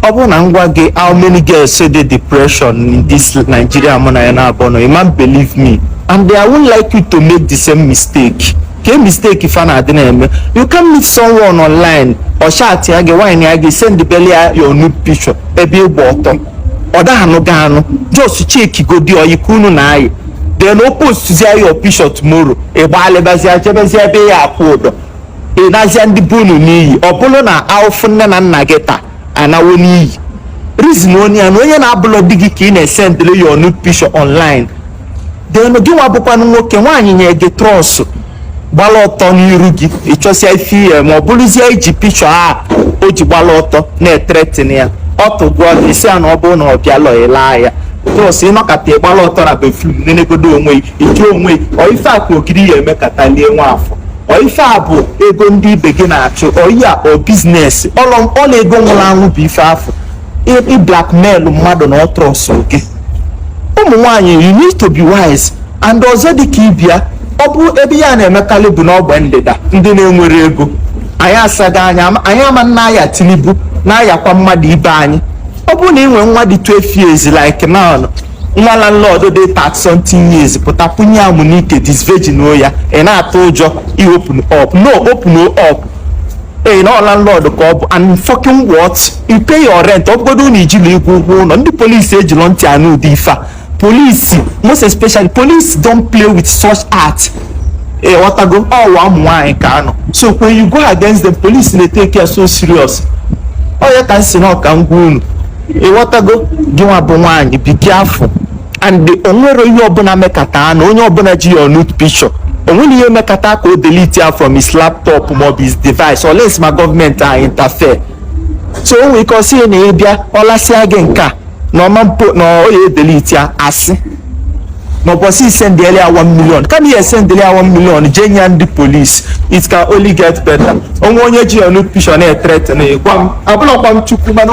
ọ bụrụ na m gwa gị how many girls dey depression in this Nigeria mụ na ya na-abụ nọ ị ma believe me and I won't like you to make the same mistake ka mistake ife na-adị na-eme you can meet someone online ọ chatịa gị wine ya gị send bele ya your nude picture ebe ịgba ọtọ ọ da-anụ gị anụ just cheki godi ọyị ka unu na-ayị then o postzie your picture tomorrow ị gbalịbazie jebezie ebe ị ya-akwụ ụdọ ị naazịa ndị be unu n'iyi ọ bụrụ na ahụfụ nne na nna gị taa anawo n'iyi reason onye ya na onye na-abụlọ di gị ka ị na-esendịrị ya nude picture online then gị nwa bụkwanụ nwoke nwaanyị nye gị trust gbala ọtọ n'iru gị ịchọsịa ife ihe ma ọ bụrụzie iji picture a o ji gbala ọtọ na-ethreaten ya ọ tụgụọ gị ị sị ya na ọ bụrụ na ọ bịalọ ị laa ya just ị nọkata ị gbala ọtọ na bathroom nenegodo onwe gị ị jụ onwe gị ọ ife a ka ogiri ya-emekata lie nwa afọ ọ ife a bụ ego ndị ibe gị na-achụ ọ ya ọ business ọla ego nwụrụ anwụ bụ ife afọ ị blackmail mmadụ na ọ trustụ gị ụmụ nwaanyị you need to be wise and ọzọ dị ka ibia ọ bụ ebe ya na-emekarị bụ n'ogbe ndịda ndị na-enwere ego anyị asaga anya anyị ama na aya Tinubu na-ayakwa mmadụ ibe anyị ọ bụrụ na ị nwee nwa dị 12 years like now nwa landlord dị 30 something years pụta kwunye ya amụ n'ike disvirginuo ya ị na-atụ ụjọ iopen up no open up ee na landlord ka ọ bụ and fucking what you pay your rent ọ bụgodo na ijila ịkwụ ụgwọ ụnọ ndị polisi ejilọ ntị anụ ụdị ife a polisi most especially police don't play with such act ịghọtago ụwa ụmụ nwaanyị ka a nọ so when you go against them police na-etake ya so serious ọ ya ka m sị nọ ka m gwa unu ịghọtago gị nwa bụ nwaanyị be careful and o nwere ihe ọbụla mekata anụ onye ọbụla ji your nude picture o nwere ihe mekata ka o delete ya from his laptop maọbụ his device unless ma gọọmenti anyị interfere so o nwere ike ọ sị ya na ị bịa ọ lasịa gị nke a na ọma mpo na ọ ya-edelete ya asị na ụbọchị ị sendịelụ ya 1 million kama ị ya-esendịelụ ya 1 million jee nye ya ndị polisi it can only get better o nwee onye ji your nude picture na-ethreaten gwa m abụlọkwa m chukwu mana